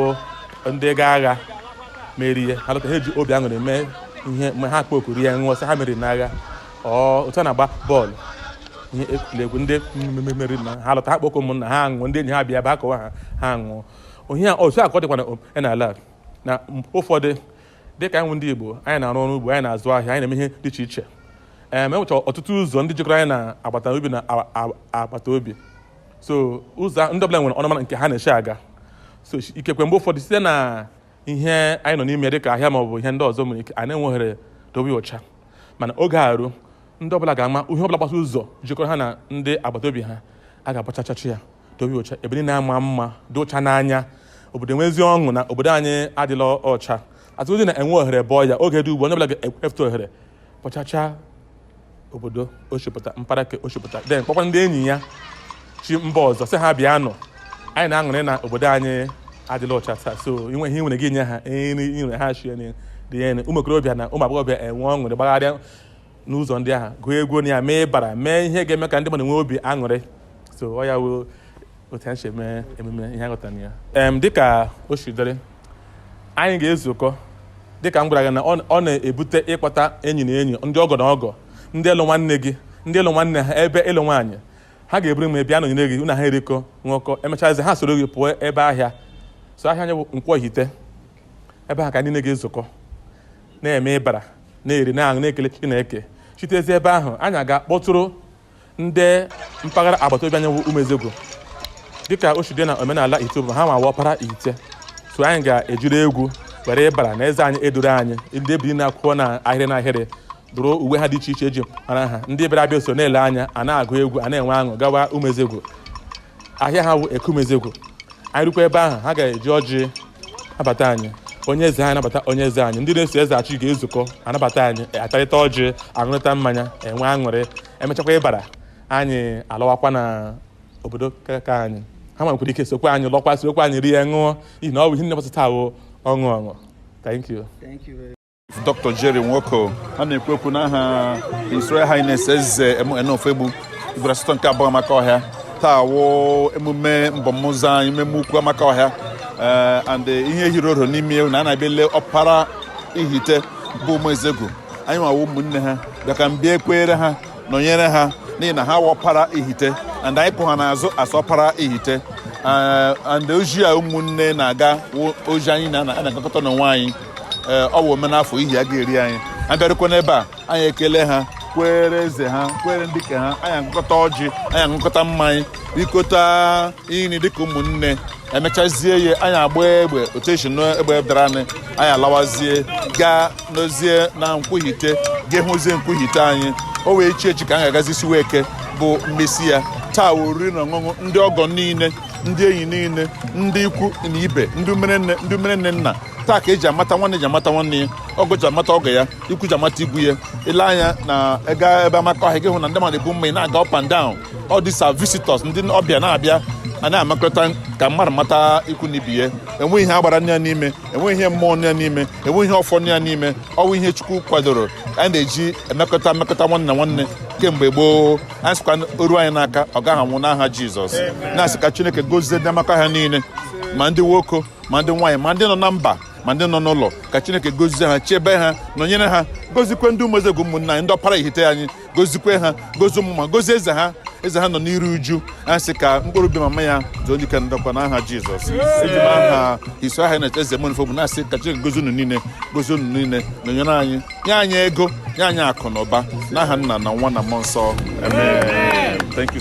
bụ ndị gaa agha merie ha lọta ha eji obi aṅụrị mee ihe mgbe ha kpokuru ya ṅụọ sị ha meriri n'agha ọ otu a na-agba bọọlụ ihe egwuregwu ndị meriri na ha lọta ha kpọkọ ụmụnna ha aṅụọ ndị enyi ha bịa ba akọwa ha ha aṅụọ onye a otu a ka ọ dịkwa na o- n'ala a. na m- ụfọdụ dịka anyị bụ ndị Igbo anyị na-arụ ọrụ ugbo anyị na-azụ ahịa anyị na-eme ihe dị iche iche ee ma e nwechara ọtụtụ ụzọ ndị jikọrọ anyị na agbata obi na a- a- agbata obi so ụzọ ndị ọbụla nwere ọnụmara nke ha na-eshi aga so ikekwe mgbe ụfọdụ site na ihe anyị nọ n'ime dịka ahịa maọbụ ihe ndị ọzọ nwere ike anyị na-enweghị ohere dobe ọcha mana oge ruo ndị ọbụla ga-ama ihe ọbụla gbasa ụzọ jikọrọ ha na ndị agbata obi ha a ga-abọchachashị ya dobe ọcha ebe niile ama mma dị ọcha n'anya obodo enwezi ọṅụ na obodo anyị adịla ọcha atụzi na enwe ohere bọọ ya oge dị ugbu onye ọbụla ga-efute ohere bọchacha obodo o shi pụta mpaghara nke o shi pụta then kpọkwa ndị enyi ya shi mba ọzọ sị ha bịanụ anyị na-aṅụrị na obodo anyị adịla ọcha taa so i nwee ihe i nwere gị nye ha nri nyere ha chi nri dị ya nri ụmụ okorobịa na ụmụ agbọghọbịa enwee aṅụrị gbagharịa n'ụzọ ndị ahụ gụọ egwu na ya mee ịbara mee ihe ga-eme ka ndị mmadụ nwee obi aṅụrị so ọ ya wụ otu anyị si eme emume ihe aghọta na ya em dịka o si dịrị anyị ga-ezukọ dịka m gwara gị na ọ ọ na-ebute ịkpọta enyi na enyi ndị ọgọ na ọgọ ndị lụ nwanne gị ndị ị lụ nwanne ha ebe ị lụ nwaanyị ha ga-eburu m bịa nọnyere gị unu ha erikọ ṅụkọ emechazi ha soro gị pụọ ebe ahịa so ahịa anyị bụ Nkwọ Ihite ebe ahụ ka niile ga-ezukọ na-eme ịbara na-eri na-aṅụ na-ekele chineke shitezi ebe ahụ anyị aga kpọtụrụ ndị mpaghara agbata obi anyị wụ Umuezegwu dịka o si dị na omenala Ihite bụ ha nwa wụ ọpara Ihite so anyị ga-ejiri egwu were ịbara na eze anyị eduru anyị ndị ebiri na-akwụkọ na ahịrị na ahịrị dụrụ uwe ha dị iche iche eji mara ha ndị bịara abịa so na-ele anya a na-agụ egwu a na-enwe ọṅụ gawa Umuezegwu ahịa ha wụ Eke Umuezegwu anyị rukwa ebe ahụ ha ga-eji ọjị nabata anyị onye eze anyị anabata onye eze anyị ndị na-eso eze achị ga-ezukọ anabata anyị atarịta ọjị aṅụrịta mmanya enwe aṅụrị emechakwa ịbara anyị alọwakwa na obodo kaka anyị ha nwekwara ike sokwa anyị lọkwa sokwa anyị rie ṅụọ n'ihi na ọ bụ ihe nne taa bụ ọṅụ ọṅụ thank you Dr. Jerry Nwoko na-ekwu okwu n'aha His Royal Highness Eze MN Ofoegbu Igwe asatọ nke abụọ Amakohia taa wụ emume mbọmụzọ anyị emume ukwu Amakohia ee and ihe hiri oro n'ime ya wụ na a na-abịa ele ọpara Ihite bụ Umuezegwu anyị nwa wụ ụmụnne ha bịa ka mbịa ekweere ha nọnyere ha n'ihi na ha wụ ọpara Ihite and anyị kwụ ha n'azụ as ọpara Ihite ee and oji a ụmụnne na-aga wụ oji anyị na- na-agakọta n'onwe anyị ee ọ wụ omenafọ ihe a ga-eri anyị abịarụkwa n'ebe a anyị ekele ha kwere eze ha kwere ndị ke ha anyị agọkọta ọjị anyị aṅụkọta mmanya rikọta nri dịka ụmụnne emechazie ya anyị agba egbe otu esi n'egbe dara anyị anyị alawazie gaa nọzie na nkwọ ihite ga hụzie nkwọ ihite anyị o wee chi echi ka anyị ga-agazi isinweke bụ mmesi ya taa oriri na ọṅụṅụ ndị ọgọ niile ndị enyi niile ndị ikwu na ibe ndị umerenne nna taa ka eji amata nwanne ji amata nwanne ya ọgọ ji amata ọgọ ya ikwu ji amata ikwu ya i lee anya na ega ebe amakọhịa gị hụ na ndị mmadụ ebu mmanya na-aga up and down all these are visitors ndị ọbịa na-abịa a na-amakọta ka mmadụ mata ikwu na ibe ya enweghị ihe agbara nọ ya n'ime enweghị ihe mmụọ nọ ya n'ime enweghị ihe ọfọ nọ ya n'ime ọ wụ ihe chukwu kwadoro a na-eji emekọta mmekọta nwanne na nwanne kemgbe gboo anyị sịkwa o ruo anyị n'aka ọ gaghị anwụ n'aha jizọs na-asị ka chineke gozie ndị amakọhịa niile ma ndị nwoke ma ndị nwaanyị ma ndị nọ na mba ma ndị nọ n'ụlọ ka chineke gozie ha chebe ha nọnyere ha gozikwe ndị ụmụezegwu ụmụnna anyị ndị ọpara ihite anyị gozikwe ha gozie ụmụ ma gozie eze ha eze ha nọ n'iru uju a sị ka mkpụrụ obi mama ya zuo ike na ndokwa n'aha jizọs eji m aha his royal highness eze ofoegbu na-asị ka chineke gozie unu niile gozie unu niile nọnyere anyị nye anyị ego nye anyị akụ na ụba n'aha nna na nwa na mmụọ nsọ amen thank you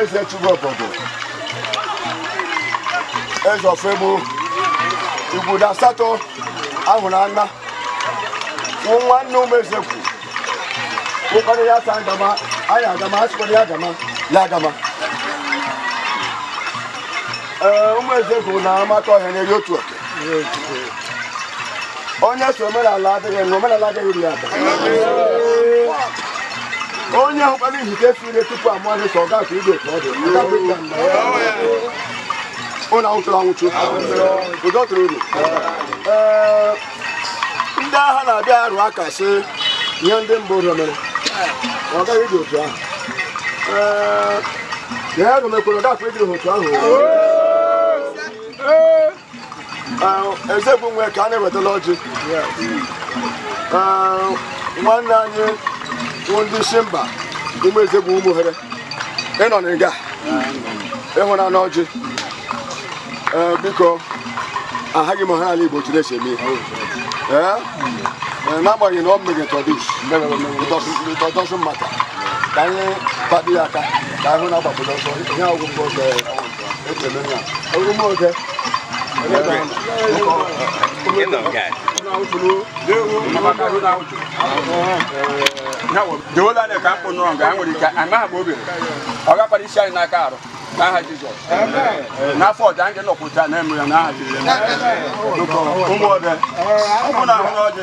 eze chụrụ obodo eze ofoegbu igbudo asatọ ahụrụ anya nwanne ụmụezegwu ụkpara ya sa agama anyị agama a sịkwara ya agama ya agama ee ụmụezegwu na amakọhịa na-eri otu a onye sị omenala adịghị na omenala adịghị dị ada onye ahụkwala ihite fire tupu amaghị ka ọ ga ka igwe ka ọ dị ụlọ anwụchụrụ anwụchụ ụdọ tụrụ unu ndị agha na-abịa arụ aka sị ihe ndị mbụ ụlọ mere ọ gaghị dị otu ahụ ee ya emekwere ọ gaghị ịdịrị otu ahụ Ezegbu nwe ka a na-ewetala ọjị nwanne anyị wụ ndị si mba ụmụ Ezegbu ụmụ ohere ị nọ na nga ị hụnanụ ọjị biko ahaghị m ha ala igbo chiri esi eme n'agbanyeghị na ọ mmeghe tọdis tọdọsụ maka ka anyị kpado ya aka ka ahụ na-agbapụta ọsọ ihe ọgwụgwọ ọsọ dewola anya ka mkpụ nụrụ nga ha nwere ike amaghị m obi ọ gakwara isi anyị n'aka arụ n'aha jizọs n'afọ ọja anyị nọkwụta na-eme ya n'aha jizọs ụmụ ọbịa ụmụnna ahụna ọjị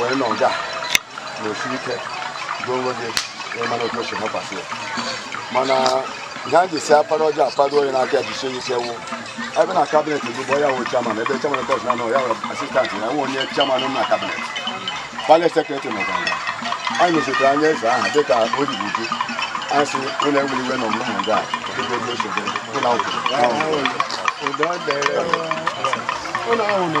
wee nọ nga na osi ike gị onwe gị mana otu osi hapasị ya mana ihe a ji si apara ọjọọ apara onye n'aka jisie ike wụ ebe na kabinet bụ bụ ya wụ chairman ebe chairman kọs na ya wụ assistant ya wụ onye chairman na kabinet palace secretary na ọganga anyị nọchite anya eze aha dịka o ji uju anyị si ụlọ enwere iwe na ọmụmụ ha ndị a dịka otu esi dị ụlọ akwụkwọ ụlọ ahụ na